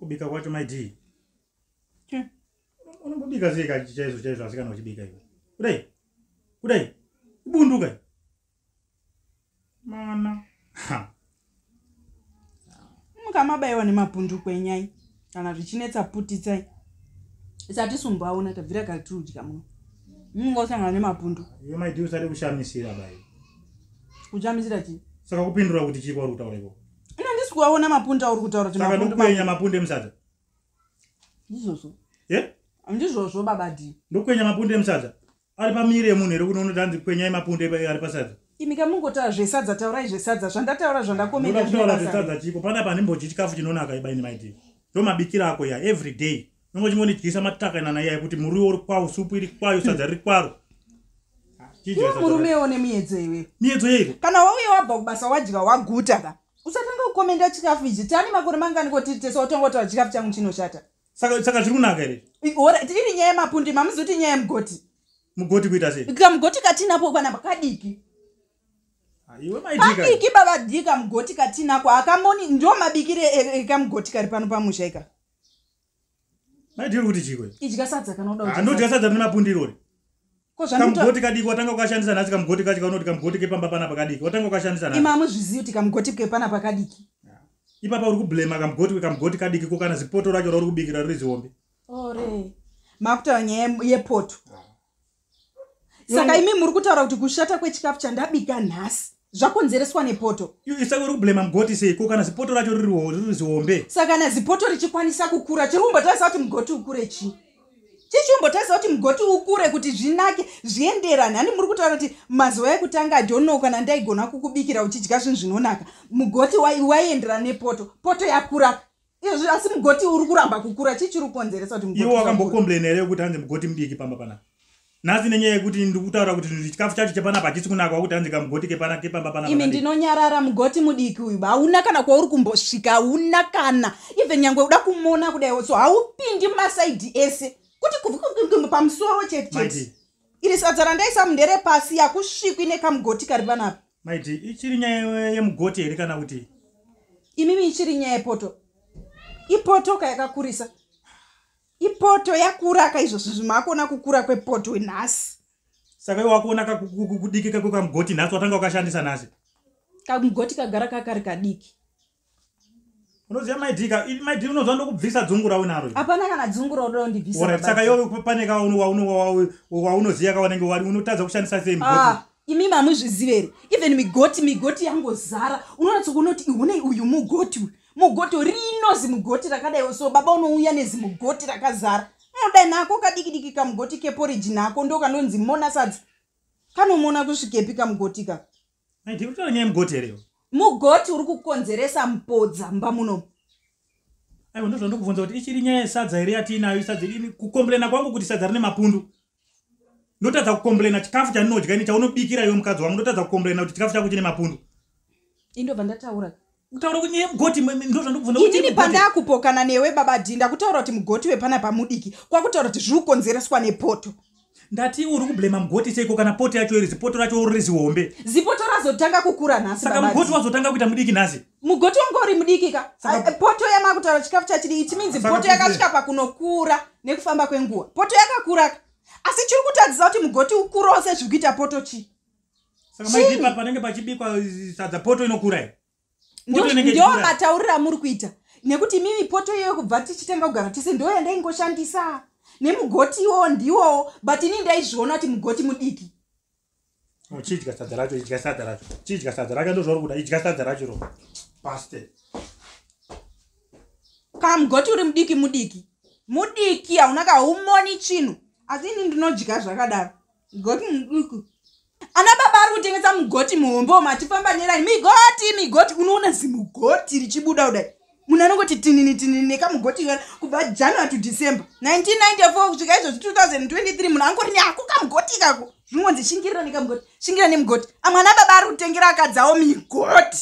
kubika kwacho maidii unombobika sei kachi chaizvo chaizvo asi kana uchibika iwe kudai kudai ibundu kai mana mukamabaiwa nemapunduko enyai kana zvichinetsa putitsai isati sumbaona tabvira kari tiri kudya muno munenge usangana nemapundu iwe maidi usati kushamisira bai kushamisira chii saka kupindura kuti chii kwauri kutaura iko ina ndisi kuaona mapundu auri kutaura saka ndikukwenya mapundu emusadza ndizvozvo ye handizvozvo baba d ndokwenya mapundu emusadza ari pamiri yemunhu here kuno unoti hanzi kwenyai mapundu ari pasadza imi ka mungotaura zvesadza taurai zvesadza zvandataura zvandakomeoda kutaura zvesadza chiko pana pa ndimbodyi chikafu chinonaka ibaini maidi ndo mabikira ako ya every day nongo chingondidyisa matakanana iyayi kuti muriwo uri kwawo supu iri kwayo sadza riri kwaro murume one miedzo iwe miedzo yeiko kana wauye wabva kubasa wadya waguta ka usatanga kukomenda chikafu ichi tani makore mangani kotiri tese watongotaura chikafu changu chinoshata saka saka zviri kunaka here orit iri nyaya yemapundi mamuzoti nyaya yemugoti mugoti kuita sei kamugoti katinapo kwana pakadiki kadiki baba dika mugoti katinako akamoni ndio mabikire ekamugoti e, e, e, kari pano pamusha ika Maidiro kuti chiko. Idya sadza kana uda. Ah, ndodya sadza rine mapundi irori. Ko zvanoita. Kamugoti kadiki watanga ukashandisa nhasi kamugoti kacho kaunoti kamugoti kepamba pana pakadiki. Watanga ukashandisa nhasi. Imamwe zviziyo kuti kamugoti kepana pakadiki. Ah. Ipapa uri kublema kamugoti kamugoti kadiki ko kana zipoto racho rauri kubikira riri zihombe. Ore. Makuta nyaya yepoto. Ah. saka imi muri kutaura kuti kushata kwechikafu chandabika nhasi zvakonzereswa nepoto isaka uri kublema mugoti seiko kana zipoto racho riri zihombe saka kana zipoto richikwanisa kukura chiri kumbotarisa kuti mugoti ukure chii chichimbotarisa kuti mugoti ukure kuti zvinake zvienderane hani muri kutaura kuti mazuva ekutanga adono kana ndaigona kukubikira uchidya zvinhu zvinonaka mugoti waienderana nepoto poto yakuraka izvi asi mugoti uri kuramba kukura chii chiri kukonzeresa kuti iwe wakambokomplaina here yekuti hanzi mugoti mudiki pamba panapa nhasi nenyaya yekuti ndiri kutaura kuti chikafu chacho chepanapa hachisi kunaka wakuti hanzi kamugoti kepana kepamba panapa imi ndinonyarara mugoti mudiki uyu hauna kana kwauri kumbosvika hauna kana even nyangwe uda kumona kudaiwo so haupindi masaidi ese kuti kuvikukumu pamusoro chete chete iri sadza randaisamu nderepasi yakusvikwi nekamugoti kari panapa maiti ichiri nyaya yemugoti here kana kuti imimi ichiri nyaya yepoto ipoto ka yakakurisa ipoto yakura ka izvozvi zvimakuona kukura kwepoto nhasi saka iwe wakuona kudikika kwekamugoti nhasi watanga ukashandisa nhasi kamugoti kagara kakari kadiki unoziva maidika maidi unoziva ndokubvisa dzungu raunaro hapana kana dzungu raudondibvisa saka iwe pane ka waunoziva ka wanenge wari unotadza kushandisa sei ah, imi mamuzvizivere even migoti migoti yangozara unonatso kunoti ihunei uyu mugoti uyu mugoti rinozi mugoti rakadai so baba unouya nezi mugoti rakazara unoda nako kadikidiki kamugoti keporiji nako ndokanonzi mona sadza kanomona kusvikepi kamugoti ka ndikutaura nyaya mugoti here iwe mugoti uri kukonzeresa mpodza mumba muno aiwa ndozva ndokubvunza kuti ichiri nyaya yesadza here yatiinayo isadza ini kukomblena kwangu kuti sadza rine mapundu ndotadza kukomblena chikafu chandinodya ini chaunobikira iwe mukadzi wangu ndotadza kukomblena kuti chikafu chako chine mapundu indobva ndataura kutaura kuti nyaya yemugoti ndozvandikubvunza inini pandakupokana newe baba dhi ndakutaura kuti mugoti wepana pamudiki kwakutaura kuti zviri kukonzereswa nepoto ndati uri kublema mugoti seiko kana poto yacho iri zipoto racho uri zihombe zipoto razotanga kukura nhasi saka mugoti wazotanga kuita mudiki nhasi mugoti wangu uri mudiki ka eh, poto yamakutaura chikafu chachiri ichi minzi poto yakasvika pakunokura nekufamba kwenguva poto yakakura ka asi chiri kutadzisa kuti mugoti ukurose zviri kuita poto chii saka maizipa panenge pachibikwa sadza poto inokura here ndiyo matauriro amuri kuita nekuti imimi poto iyoyo kubva tichitanga kugara tese ndo yandaingoshandisa nemugoti iwowo ndiwowo but ini ndaizviona kuti mugoti mudiki uchidya sadza racho idya sadza racho chidya sadza racho ndozvauri kuda idya sadza racho ro paste ka mugoti uri mudiki mudiki mudiki hauna kaumoni chinhu asi ini ndinodya zvakadaro mugoti muduku ana baba ari kutengesa mugoti muhombo matifamba neraini migoti migoti unoona zimugoti richibuda kudai munhu anongoti tinini tinini nekamugoti kana kubva january to december 1994 kusvika izvozvi 2023 munhu angori neako kamugoti ikako zvinongonzi shingirira nekamugoti shingira nemugoti amwe ana baba ari kutengera akadzawo migoti